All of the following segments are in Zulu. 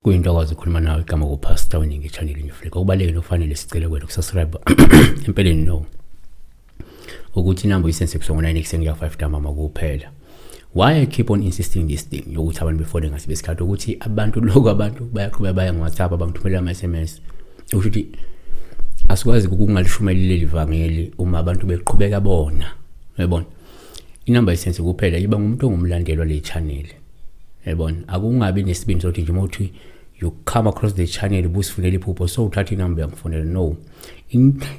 kuyinto akwazi ukukhuluma nawe igama kupastor weningi echannelini yofleka okubalulekile okufanele sicele kwena ukusubscribe empeleni no ukuthi inamba uyisense ebusuku ngo-9 ekuseni kuya 5 ntambama kuphela why I keep on insisting this thing yokuthi abantu befone ngasibe isikhathi ukuthi abantu lokho abantu bayaqhubeka baya ngoWhatsApp abangithumelela ama-SMS usho ukuthi asikwazi ukungalishumayeli leli vangeli uma abantu beqhubeka bona uyabona inamba isense kuphela iba ngumuntu ongumlandelwa le channel uyabona akungabi nesibindi sokuthi nje uma uthi you come across the channel busifunela iphupho so uthatha inamba uyangifonela no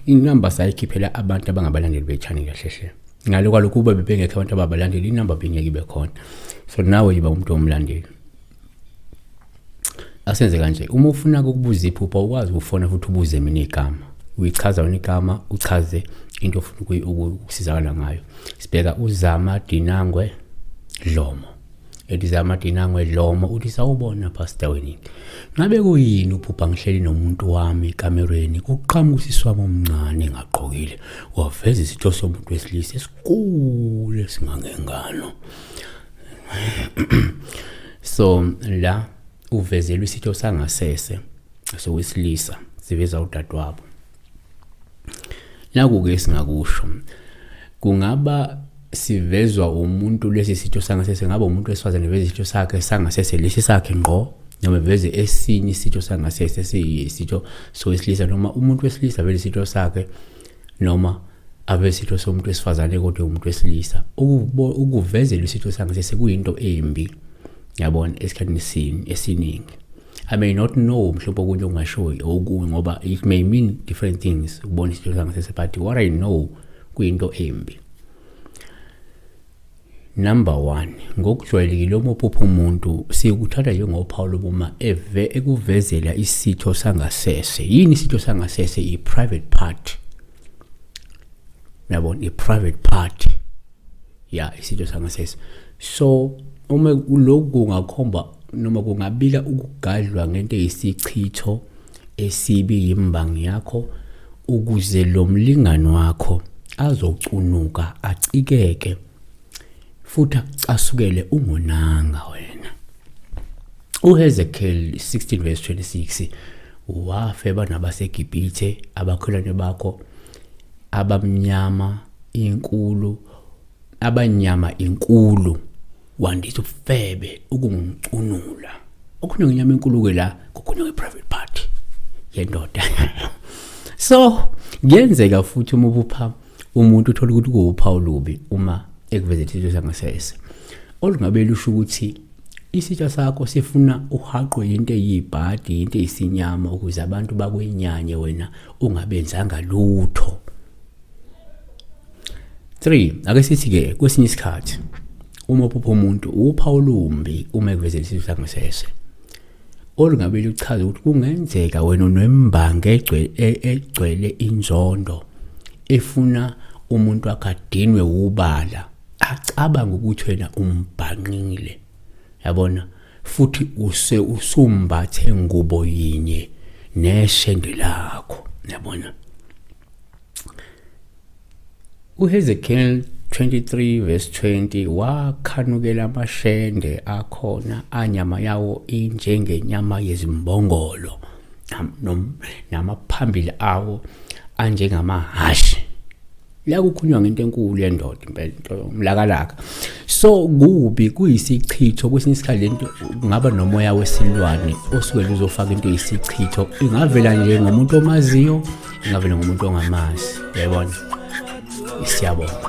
inamba sayikhiphela abantu abangabalandeli bechannel kahle hle ngalo kwalokhu uba bebengekho abantu ababalandeli inamba bengeke ibe khona so nawe yiba umuntu omlandeli asenze kanje uma ufuna ukubuza iphupha ukwazi ukufona futhi ubuze mina igama uyichaza wena igama uchaze into ofuna ukusizakala ngayo sibheka uzama dinangwe dlomo Edizama Dinango edlomo uthi sawubona pastor wini. Ngabe kuyini uphupha ngihleli nomuntu wami ekamerweni kuqhamuka usisi wami omncane ngagqokile waveza isitho somuntu wesilisa esikhulu esingangengalo. So la uvezelwe isitho sangasese sowesilisa siveza udadewabo. naku-ke esingakusho kungaba sivezwa umuntu lesi sitho sangasese ngaba umuntu wesifazane veze isitho sakhe sangasese lesi sakhe ngqo noma veze esinye isitho sangasese siyisitho sowesilisa noma umuntu wesilisa vele isitho sakhe noma abe isitho somuntu wesifazane kodwa umuntu wesilisa ukuvezela isitho sangasese kuyinto embi yabona esikhathini esiningi I may not know mhlawumbe okunye okungashoyo okunye ngoba it may mean different things ukubona isinto sangasese but what I know kuyinto embi Number 1 ngokujwayelekile uma uphupha umuntu sikuthatha njengophawu lokuma eve ekuvezela isitho sangasese yini isitho sangasese i private part yabona i private part ya isitho sangasese so uma lokhu kungakhomba noma kungabika ukugadlwa ngento eyisichitho esibi yimbangi yakho ukuze lo mlingani wakho azocunuka acikeke futhi acasukele ungonanga wena uHezekiel 16 verse 26 wafeba nabaseGibhithe abakholwane bakho abamnyama inkulu abanyama inkulu wandisa ubufebe ukungicunula okhona ngenyama enkulu-ke la kokhona kwe-private party yendoda so kuyenzeka futhi uma ubupha umuntu uthole ukuthi kuwuphawu lubi uma ekuveza isitho sangasese olungabe lusho ukuthi isitsha sakho sifuna uhaqwe yinto eyibhadi yinto eyisinyama ukuze abantu bakwenyanye wena ungabenzanga lutho 3 ake sithi ke kwesinye isikhathi uma uphupha umuntu upha olumbi uma ekuveza isizwe sangasese olungabe luchaza ukuthi kungenzeka wena unembangi e-, egcwele inzondo efuna umuntu akadinwe ubala acabanga ukuthi wena umbhangqile yabona futhi use usumbathe ngubo yinye neshende lakho yabona uHezekiel 23 verse 20 wakhanukela amashende akhona anyama yawo injengenyama yezimbongolo namaphambili awo anjengamahhashi la kukhulunywa ngento enkulu yendoda impela into yomlakalaka so kubi kuyisichitho kwesinye isikhathi lento kungaba nomoya wesilwane osuke luzofaka into yisichitho ingavela nje ngomuntu omaziyo ingavela ngomuntu ongamazi yayibona siyabonga